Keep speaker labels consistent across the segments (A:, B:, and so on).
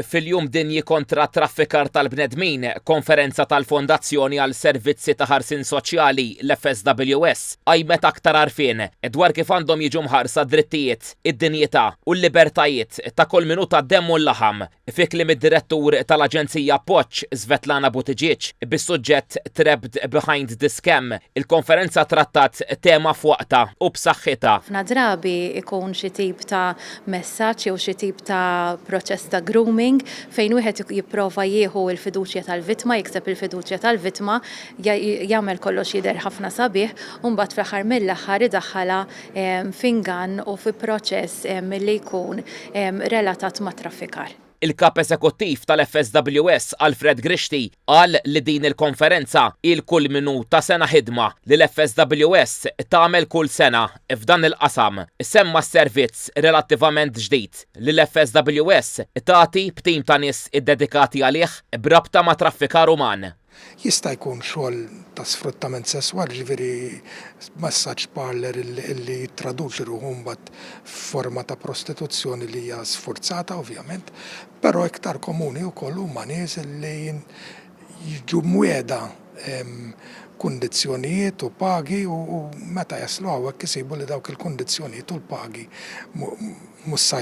A: Fil-Jum Dinji Kontra t-Traffikar tal-Bnedmin, konferenza tal-Fondazzjoni għal Servizzi ta' Ħarsien Soċjali, l-FSWS, qajmet aktar għarfien dwar kif għandhom jiġu mħarsa d-drittijiet, id-dinjità u l-libertajiet ta' kull min hu tad-demm u l-laħam, fi kliem id-Direttur tal-Aġenzija Appoġġ, Svetlana Buttigieg, bis-suġġett Trapped Behind the Scam, il-konferenza trattat tema f'waqtha u b'saħħitha. Ħafna drabi
B: jkun xi tip ta' messaġġ jew xi tip ta' proċess ta' grooming fejn wieħed jipprova jieħu l-fiduċja tal-vittma, jikseb il-fiduċja tal-vittma, jagħmel kollox jidher ħafna sabiħ u mbagħad fl-aħħar mill-aħħar idaħħalha f'ingann u fi proċess li jkun relatat mat-traffikar. Il-Kap Eżekuttiv
A: tal-FSWS, Alfred Grixti, qal li din il-konferenza hi l-kulminu ta' sena ħidma li l-FSWS tagħmel kull sena f'dan il-qasam. Semma s-servizz relattivament ġdid li l-FSWS tagħti b'tim ta' nies iddedikati għalih b'rabta ma' traffikar uman. Jista' jkun
C: xogħol ta' sfruttament sesswali, jiġifieri massage parlour li jittraduċi ruħu mbagħad f'forma ta' prostituzzjoni li hija sfurzata ovvjament, però iktar komuni wkoll huma nies li jiġu mwiegħda kundizzjonijiet u pagi u meta jaslu hawnhekk isibu li dawk il-kundizzjonijiet u l-pagi mhux se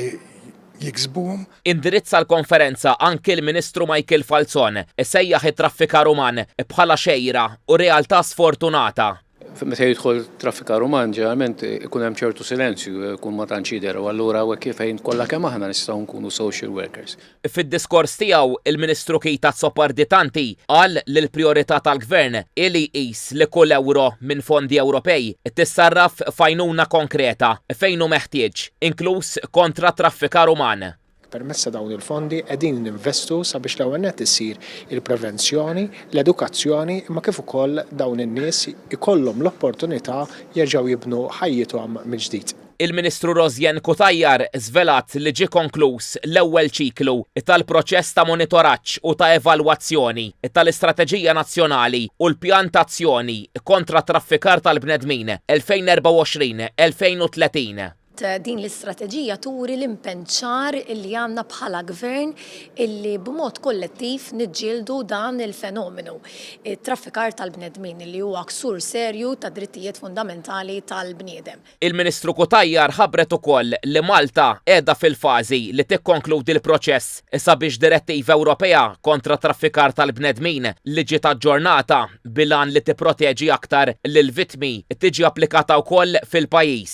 C: jiksbuhom. Indirizza
A: l-konferenza anki l-Ministru Michael Falzon, isejjaħ it-traffikar uman bħala xejra u realtà sfortunata. Meta jidħol
D: traffikar uman ġeneralment ikun hemm ċertu silenzju, ikun ma tantx jidher u allura hawnhekk hi fejn kollha kemm aħna nistgħu nkunu social workers. Fid-diskors tiegħu,
A: il-Ministru Keita Azzopardi Tanti qal li l-prijorità tal-Gvern hi li jqis permezz li kull ewro minn fondi Ewropej tissarraf f'għajnuna konkreta fejn hu meħtieġ, inkluż kontra t-traffikar uman. Permezz ta' dawn
E: il-fondi qegħdin ninvestu sabiex l-ewwel nett issir il-prevenzjoni, l-edukazzjoni imma kif ukoll dawn in-nies ikollhom l-opportunità jerġgħu jibnu ħajjithom mill-ġdid. Il-Ministru Rosianne
A: Cutajar żvelat li ġie konkluż l-ewwel ċiklu tal-proċess ta' monitoraġġ u ta' evalwazzjoni tal-Istrateġija Nazzjonali u l-Pjan ta' Azzjoni kontra t-Traffikar tal-Bnedmin 2024-2030. Din
F: l-istrateġija turi l-impenn ċar li għandna bħala Gvern illi b'mod kollettiv niġġieldu dan il-fenomenu, it-traffikar tal-bnedmin, li huwa ksur serju tad-drittijiet fundamentali tal-bniedem. Il-Ministru Cutajar
A: ħabbret ukoll li Malta qiegħda fil-fażi li tikkonkludi l-proċess sabiex Direttiva Ewropea kontra t-traffikar tal-bnedmin li ġiet aġġornata bil-għan li tipproteġi aktar lill-vittmi tiġi applikata wkoll fil-pajjiż.